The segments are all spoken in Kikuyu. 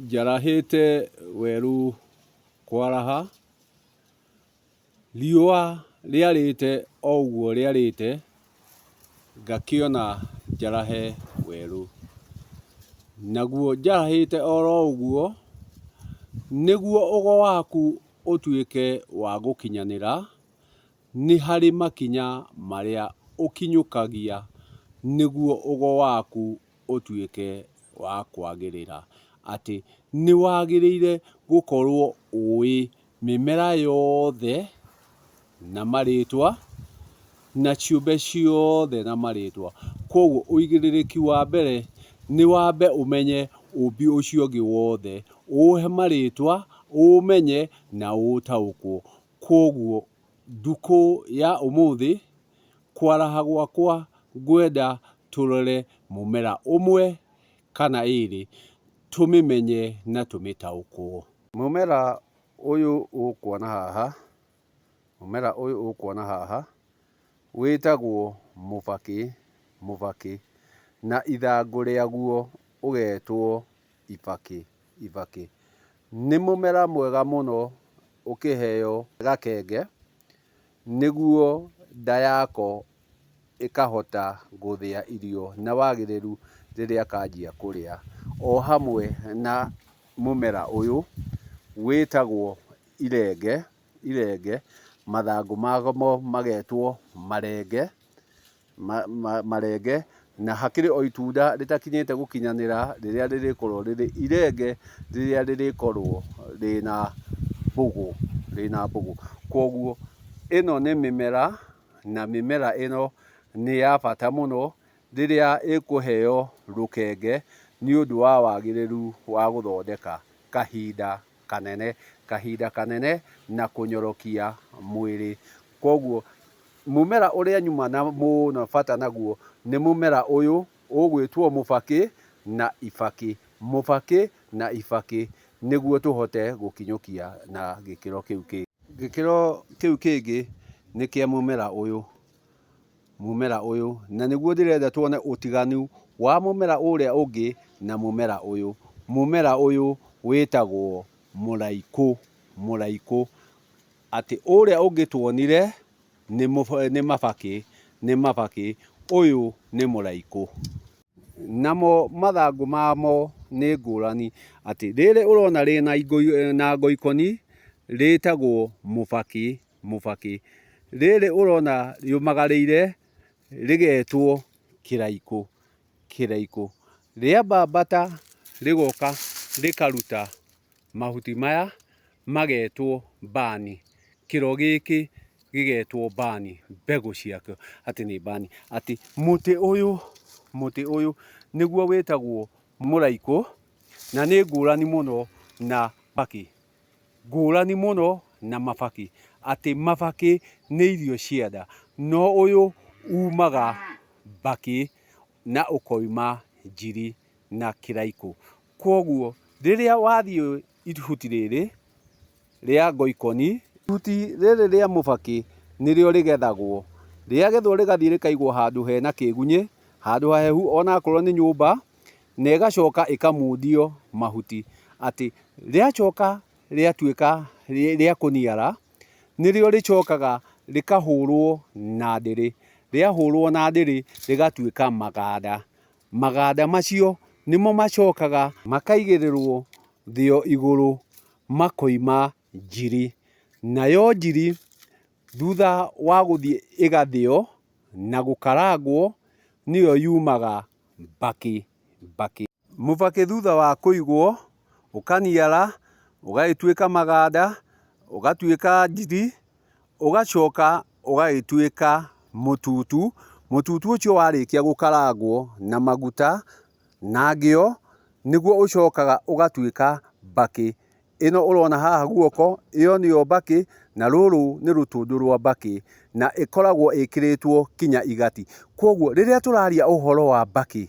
Njarahĩte werũ kwaraha, riũa rĩarĩte o ũguo rĩarĩte, ngakĩona njarahe werũ. Naguo njarahĩte o ro ũguo, nĩguo ũgo waku ũtuĩke wa gũkinyanĩra, nĩ harĩ makinya marĩa ũkinyũkagia nĩguo ũgo waku ũtuĩke wa kwagĩrĩra, atĩ nĩ wagĩrĩire gũkorwo ũĩ mĩmera yothe na marĩtwa, na ciũmbe ciothe na marĩtwa. Koguo ũigĩrĩrĩki wa mbere nĩ wambe ũmenye ũmbi ũcio ũngĩ wothe, ũũhe marĩtwa, ũũmenye na ũũtaũkwo. Koguo Ndũkũ ya ũmũthĩ kwaraha gwakwa ngwenda tũrore mũmera ũmwe kana ĩrĩ tũmĩmenye na tũmĩtaũkwo. Mũmera ũyũ ũkuona haha, mũmera ũyũ ũkuona haha wĩtagwo mũbakĩ, mũbakĩ na ithangũ rĩaguo ũgetwo. ibakĩ ibakĩ. Nĩ mũmera mwega mũno ũkĩheo gakenge nĩguo nda yako ĩkahota gũthĩa irio na wagĩrĩru rĩrĩa kanjia kũrĩa. O hamwe na mũmera ũyũ wĩtagwo irenge irenge, mathangũ mamo magetwo marenge, marenge, na hakĩrĩ o itunda rĩtakinyĩte gũkinyanĩra rĩrĩa rĩrĩkorwo rĩrĩ irenge rĩrĩa rĩrĩkorwo rĩna mbũgũ, rĩna mbũgũ. Kwoguo ĩno nĩ mĩmera, na mĩmera ĩno nĩ ya bata mũno rĩrĩa ĩkũheo rũkenge nĩ ũndũ wa wagĩrĩru wa gũthondeka kahinda. kanene, kahinda kanene na kũnyorokia mwĩrĩ. Kwoguo mũmera ũrĩa nyumana mũno bata naguo nĩ mũmera ũyũ ũgwĩtwo mũbakĩ na ibakĩ, mũbakĩ na ibakĩ nĩguo tũhote gũkinyũkia na gĩkĩro kĩu kĩngĩ. Gĩkĩro kĩu kĩngĩ nĩ kĩa mũmera ũyũ mũmera ũyũ, na nĩguo ndĩrenda tuone ũtiganu wa mũmera ũrĩa ũngĩ na mũmera ũyũ. Mũmera ũyũ wĩtagwo mũraikũ, mũraikũ. Atĩ ũrĩa ũngĩ tuonire nĩ nĩ mabakĩ, nĩ mabakĩ, ũyũ nĩ mũraikũ. Namo mathangũ mamo nĩ ngũrani, atĩ rĩrĩ ũrona rĩna na ngoikoni rĩtagwo mũbakĩ. mũbakĩ. Rĩrĩ ũrona rĩũmagarĩire rĩgetwo kĩraikũ, kĩraikũ. Rĩambambata rĩgoka rĩkaruta mahuti maya magetwo mbani, kĩro gĩkĩ gĩgetwo mbani, mbegũ ciakĩo atĩ nĩ mbani. Atĩ mũtĩ ũyũ, mũtĩ ũyũ nĩguo wĩtagwo mũraikũ na nĩ ngũrani mũno na mbakĩ. Ngũrani mũno na mabakĩ atĩ mabakĩ nĩ irio cia nda no ũyũ umaga bakĩ na ũkoima njiri na kĩraikũ. Kwoguo rĩrĩa wathiĩ ihuti rĩrĩ rĩa ngoikoni, ihuti rĩrĩ rĩa mũbakĩ nĩrĩo rĩgethagwo, rĩagethwo rĩgathiĩ rĩkaigwo handũ hena kĩgunyĩ, handũ hahehu onakorwo nĩ nyũmba. na ĩgacoka ĩkamundio mahuti, atĩ rĩacoka rĩatuĩka rĩa kũniara, nĩrĩo rĩcokaga rĩkahũrwo na ndĩrĩ, rĩahũrwo na ndĩrĩ rĩgatuĩka maganda, maganda macio nĩmo macokaga makaigĩrĩrwo thĩo igũrũ makoima njiri, nayo njiri thutha wa gũthiĩ ĩgathĩo na gũkarangwo nĩyo yumaga. mbakĩ mbakĩ. Mũbakĩ thutha wa kũigwo ũkaniara ũgagĩtuĩka maganda, ũgatuĩka ndigi, ũgacoka ũgagĩtuĩka mũtutu. Mũtutu ũcio warĩkia gũkarangwo na maguta na ngĩo, nĩguo ũcokaga ũgatuĩka mbakĩ. ĩno ũrona haha guoko, ĩyo nĩyo mbakĩ, na rũrũ nĩ rũtũndũ rwa mbakĩ, na ĩkoragwo ĩkĩrĩtwo kinya igati. Kwoguo rĩrĩa tũraria ũhoro wa mbakĩ,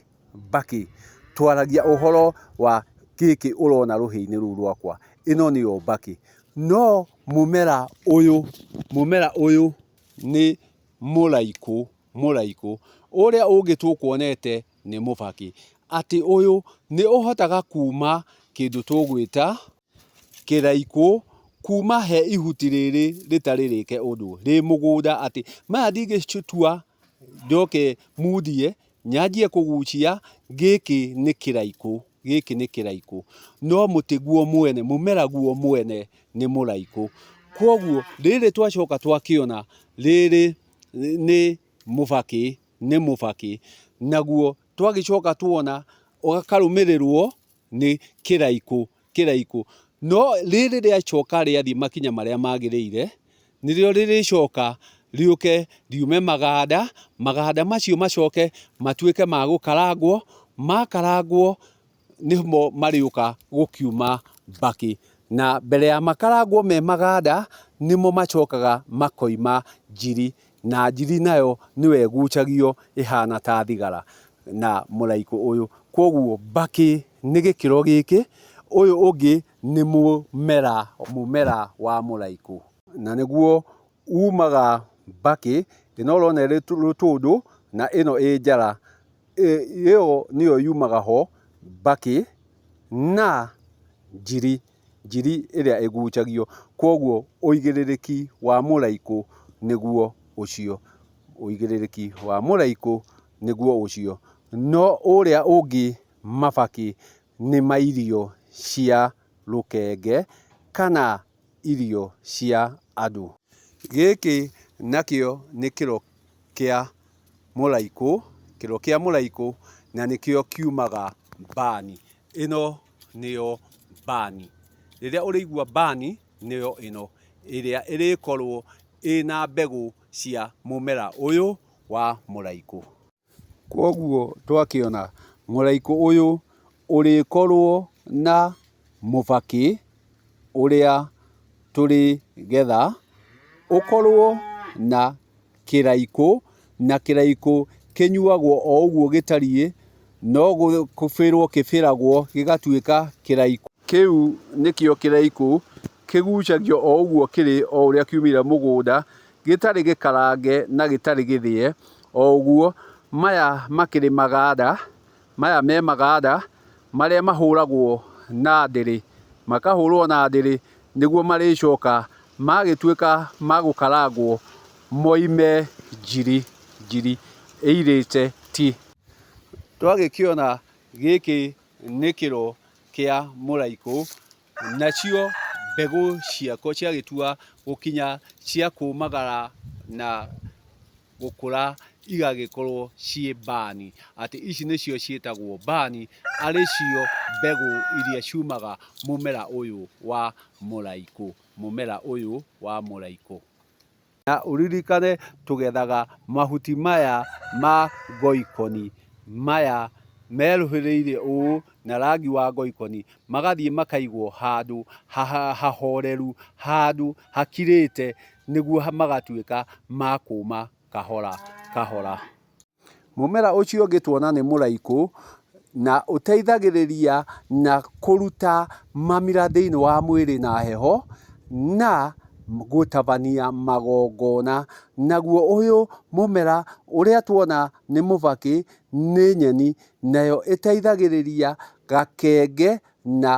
mbakĩ, twaragia ũhoro wa gĩkĩ ũrona rũhĩ-inĩ rũu rwakwa, ĩno nĩyo mbakĩ. No mũmera ũyũ, mũmera ũyũ nĩ mũraikũ, mũraikũ, ũrĩa ũngĩ tũkuonete. nĩ mũbakĩ. Atĩ ũyũ nĩ ũhotaga kuuma kĩndũ tũgwĩta kĩraikũ, kuuma he ihuti rĩrĩ rĩtarĩ rĩke ũndũ, rĩ mũgũnda atĩ maya ndingĩtua njoke mundie, nyanjie kũgucia, gĩkĩ nĩ kĩraikũ, gĩkĩ nĩ kĩraikũ. No mũtĩ guo mwene, mũmera guo mwene nĩ mũraikũ. Kũguo rĩrĩ twacoka twakĩona, rĩrĩ nĩ mũbakĩ. nĩ mũbakĩ, naguo twagĩcoka tuona ũgakarũmĩrĩrwo nĩ kĩraikũ, kĩraikũ. No rĩrĩ rĩacoka rĩathiĩ makinya marĩa magĩrĩire, nĩrĩo rĩrĩcoka rĩũke riume maganda, maganda macio macoke matuĩke ma gũkarangwo, makarangwo nĩmo marĩũka gũkiuma mbakĩ. Na mbere ya makarangwo me maganda, nĩmo macokaga makoima njiri, na njiri nayo nĩyo ĩgucagio ĩhana ta thigara na mũraikũ ũyũ. Kũguo mbakĩ nĩ gĩkĩro gĩkĩ, ũyũ ũngĩ nĩ mũmera mũmera wa mũraikũ. Na nĩguo umaga mbakĩ, ĩno ũrona ĩrĩ tũtũndũ na ĩno ĩ njara. Ĩyo nĩyo yumaga ho, mbakĩ na njiri, njiri ĩrĩa ĩgucagio. Kwoguo ũigĩrĩrĩki wa mũraikũ nĩguo ũcio, ũigĩrĩrĩki wa mũraikũ nĩguo ũcio. No ũrĩa ũngĩ mabakĩ nĩ ma irio cia rũkenge kana irio cia andũ. Gĩkĩ nakĩo nĩ kĩro kĩa mũraikũ, kĩro kĩa mũraikũ na nĩkĩo kiumaga mbani. Ĩno nĩyo mbani. Rĩrĩa ũrĩigua mbani nĩyo ĩno ĩrĩa ĩrĩkorwo ĩna mbegũ cia mũmera ũyũ wa mũraikũ. Kwoguo twakĩona mũraika ũyũ ũrĩkorwo na mũbakĩ ũrĩa tũrĩgetha, ũkorwo na kĩraikũ, na kĩraikũ kĩnyuagwo o ũguo gĩtariĩ, no gũbĩrwo kĩbĩragwo gĩgatuĩka kĩraikũ. Kĩu nĩkĩo kĩraikũ kĩgucagio o ũguo kĩrĩ o ũrĩa kiumĩra mũgũnda, gĩtarĩ gĩkarange na gĩtarĩ gĩthĩe o ũguo. Maya makĩrĩ maganda, maya me maganda marĩa mahũragwo na ndĩrĩ, makahũrwo na ndĩrĩ nĩguo marĩcoka magĩtuĩka ma gũkarangwo moime njiri njiri ĩirĩte ti. Twagĩkĩona gĩkĩ nĩ kĩro kĩa mũraikũ, Nacio mbegũ ciako ciagĩtua gũkinya cia kũmagara na gũkũra igagĩkorwo ciĩ mbani, atĩ ici nĩcio ciĩtagwo mbani, arĩ cio mbegũ iria ciumaga mũmera ũyũ wa mũraikũ, mũmera ũyũ wa mũraikũ. Na ũririkane tũgethaga mahuti maya ma ngoikoni maya meruhĩrĩire ũũ na rangi wa ngoikoni, magathiĩ makaigwo handũ hahoreru, handũ hakirĩte nĩguo magatuĩka ma kũũma kahora kahora. Mũmera ũcio ũngĩ tuona nĩ mũraikũ, na ũteithagĩrĩria na kũruta mamira thĩinĩ wa mwĩrĩ na heho, na gũtabania magongona. Naguo ũyũ mũmera ũrĩa tuona nĩ mũbakĩ, nĩ nyeni, nayo ĩteithagĩrĩria gakenge na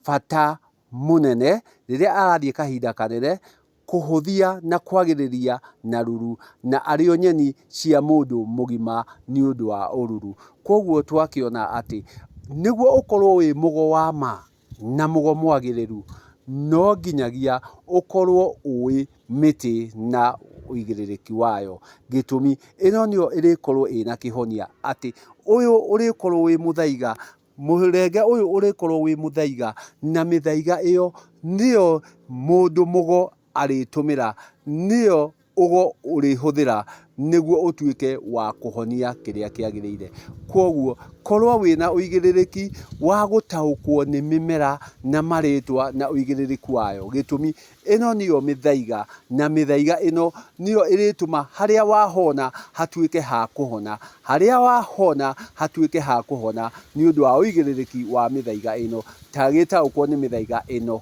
bata mũnene rĩrĩa arathiĩ kahinda kanene kũhũthia na kwagĩrĩria na ruru na arĩo nyeni cia mũndũ mũgima nĩ ũndũ wa ũruru. Kwoguo twakĩona atĩ nĩguo ũkorwo wĩ mũgo wa ma na mũgo mwagĩrĩru, no nginyagia ũkorwo ũĩ mĩtĩ na ũigĩrĩrĩki wayo. Gĩtũmi, ĩno nĩyo ĩrĩkorwo ĩna kĩhonia atĩ ũyũ ũrĩkorwo wĩ mũthaiga Mũrenge ũyũ ũrĩkorwo wĩ mũthaiga, na mĩthaiga ĩyo nĩyo mũndũ mũgo arĩtũmĩra, nĩyo ũgo ũrĩhũthĩra nĩguo ũtuĩke wa kũhonia kĩrĩa kĩagĩrĩire. Kwoguo korwo wĩna ũigĩrĩrĩki wa gũtaũkwo nĩ mĩmera na marĩtwa na ũigĩrĩrĩku wayo. Gĩtũmi, Ĩno nĩyo mĩthaiga, na mĩthaiga ĩno nĩyo ĩrĩtũma harĩa wahona hatuĩke ha kũhona, harĩa wahona hatuĩke ha kũhona nĩ ũndũ wa ũigĩrĩrĩki wa mĩthaiga ĩno, ta gĩtaũkwo nĩ mĩthaiga ĩno.